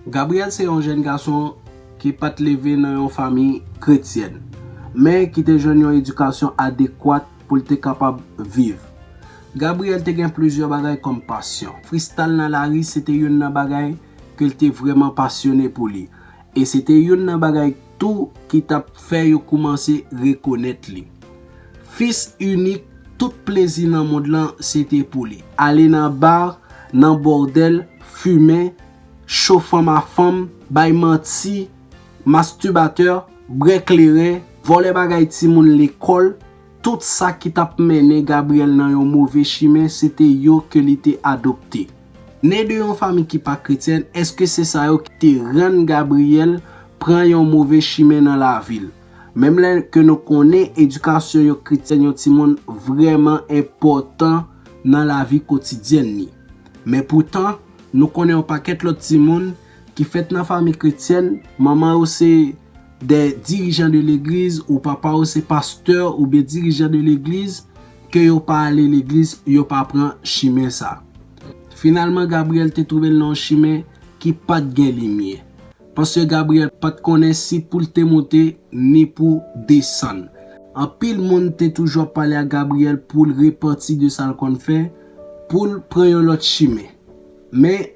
Gabriel se yon jèn gason ki pa t leve nan yon fanmi kretyèn, men ki te jwenn yon edikasyon adekwat pou l te kapab viv. Gabriel te gen plizyè bagay kòm pasyon. Fristal nan lari se te youn nan bagay ke l te vrèman pasyone pou li, e se te youn nan bagay. tou ki t ap fè yo koumanse rekonèt li. Fis inik, tout plezi nan mond lan se te pou li. Ale nan bar, nan bordel, fumen, cho fanm a fanm, bay manti, masturbateur, brè kleren, vòlè bagay timoun lekòl, tout sa ki t ap mennen Gabriel nan yon move chimen se te yo ke li te adopte. Ne de yon fanmi ki pa kretyèn, èske se sa yo ki te rann Gabriyèl pran yon move chimen nan lavi l? Menm lè ke nou konnen edikasyon yon kretyèn yon timoun vrèman enpòtan nan lavi kotidyèn ni. Men poutan, nou konnen yon pakèt lòt timoun ki fèt nan fanmi kretyèn, manman yo se. Des dirigeants de l'église ou papa ou se pastè ou byen dirijan de legliz ke yo pa ale legliz yo pa pran chimen sa. Finalman Gabriel te twouve l nan yon chimen ki pat gen limye. Paske Gabriel pat konnen si pou l te monte ni pou desann. Anpil moun te toujou ap pale ak Gabriel pou l repanti de sa l konn fè, pou l pran yon lòt chimen. Men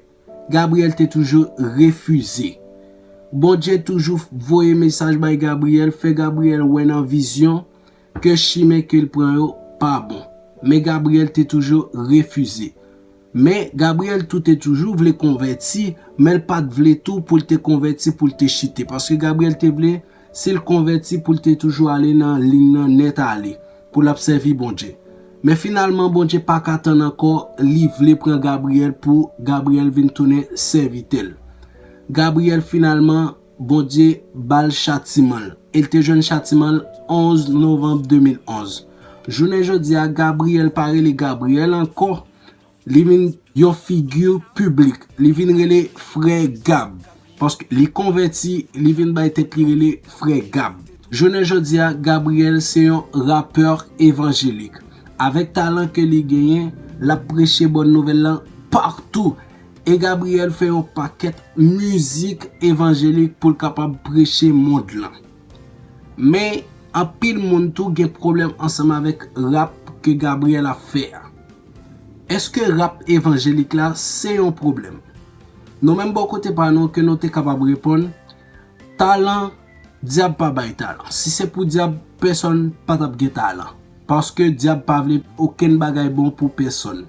Gabriel te toujou refize. Bondye toujou voye mesaj bay Gabriel, fè Gabriel wè nan vizyon ke chimen ke l pran yo pa bon. Men Gabriel te toujou refize. Men, Gabriel tou te toujou vle konvèti, men l pa t vle tou pou l te konvèti pou l te chite. Paske Gabriel te vle. Si l konvèti pou l te toujou ale nan lin nan nèt ale, pou l ap sèvi Bondye. Men finalman Bondye pa ka tann ankò li vle pran Gabriyèl pou Gabriyèl vin tounen sèvitè l. Gabriyèl finalman Bondye ba l chatiman l e l te jwenn chatiman l 11 novanm 2011. Jounen jodi a Gabriyèl pa rele Gabriyèl ankò Li vin yon figi piblik, li vin rele Frè Gab. Paske li konvèti, li vin bay tèt li rele Frè Gab. Jounen jodi a, Gabriel se yon rapè evanjelik. Avèk talan ke li genyen, l ap preche bòn nouvèl lan patou. E Gabriel fè yon pakèt mizik evanjelik pou l kapab preche mond lan. Men anpil moun tou gen pwoblèm ansanm avèk rap ke Gabriel ap fè a. Eske rap evanjelik la se yon pwoblèm? Nou menm bò kote pa nou ke nou te kapab reponn, talan dyab pa bay talan. Si se pou dyab pèsòn pa tap gen talan. Paske dyab pa vle okenn bagay bon pou pèsòn.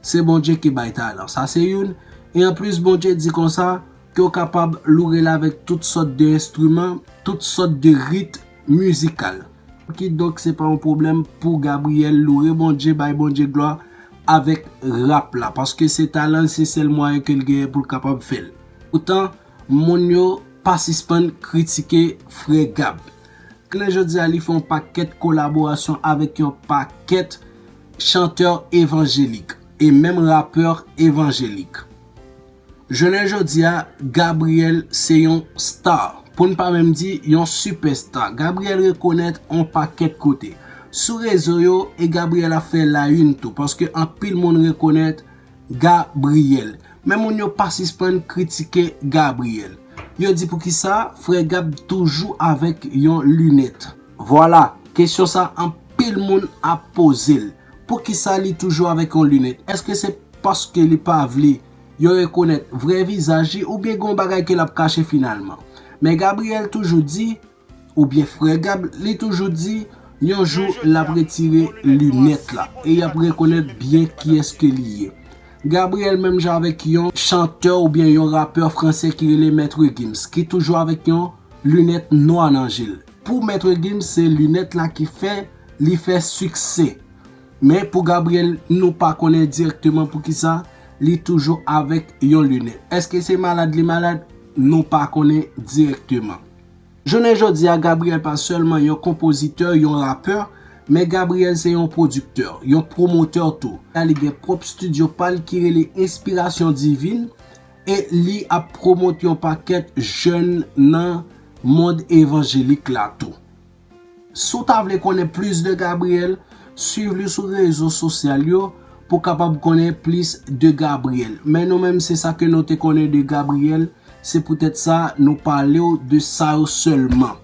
Se Bondye ki bay talan. Sa se youn, e anplis Bondye di konsa, Ke w kapab loure l avèk tout sòt de enstriman, tout sòt de rit mizikal. Kidonk se pa yon pwoblèm pou Gabriel loure Bondye, bay Bondye glwa avèk rap la. Paske se talan l, se sèl mwayen ke l genyen pou l kapab fè l. Poutan, moun yo pa sispann kritike Frè Gab. Jounen jodi a li fè yon pakèt kolaborasyon avèk yon pakèt chantè evanjelik e menm rapè evanjelik. Jounen jodi a, Gabriel se yon star, pou n pa menm di yon sipèsta. Gabriel rekonèt on pakèt kote. Sou rezo yo, e Gabriel ap fè la yn tou, paske anpil moun rekonèt Gabriel. Men moun yo pa sispann kritike Gabriel. Yo di poukisa frè Gab toujou avèk yon linèt. Vwala, kesyon sa anpil moun ap poze l. Poukisa li toujou avèk yon lunèt? Eske se paske li pa vle yo rekonèt vrè vizaj li oubyen gen yon bagay ke lap kache finalman? Men Gabriel toujou di, oubyen frè Gab li toujou di, yon jou lap retire lunèt la e yap rekonèt byen kiyès ke li ye. Gabriel menm jan avèk yon chantè oubyen yon rapè fransè ki rele Maître Gims ki toujou avèk yon lunèt nwa nan je l. Pou Maître Gims se lunèt la ki fè li fè siksè. Men pou Gabriel nou pa konnen dirèkteman poukisa li toujou avèk yon lunèt. Eske se malad li malad? Nou pa konnen dirèkteman. Jounen jodi a Gabriel pa sèlman yon konpozitè, yon rapè, men Gabriel se yon pwodiktè, yon pwomotè tou. Li gen pwòp studio pa l ki rele Inspiration Divine. E li ap pwomot yon pakèt jèn nan mond evanjelik la tou. Si w ta vle konnen plis de Gabriel, swiv li sou rezo sosyal yo pou kapab konnen plis de Gabriel. Men nou menm se sa ke nou te konnen de Gabriel, se poutèt sa nou pale w de sa yo sèlman.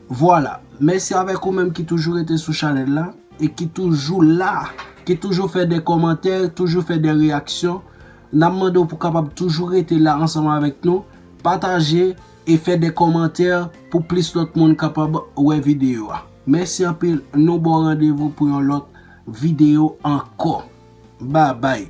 Vwala, mèsi avèk ou menm ki toujou rete sou chanèl la e ki toujou la, ki toujou fè de kòmantè, toujou fè de reyaksyon. N ap mande w pou kapab toujou rete la ansanm avèk nou, pataje e fè de kòmantè pou plis lòt moun kapab wè videyo a. Mèsi anpil, nou ba w randevou pou yon lòt videyo ankò. Babay!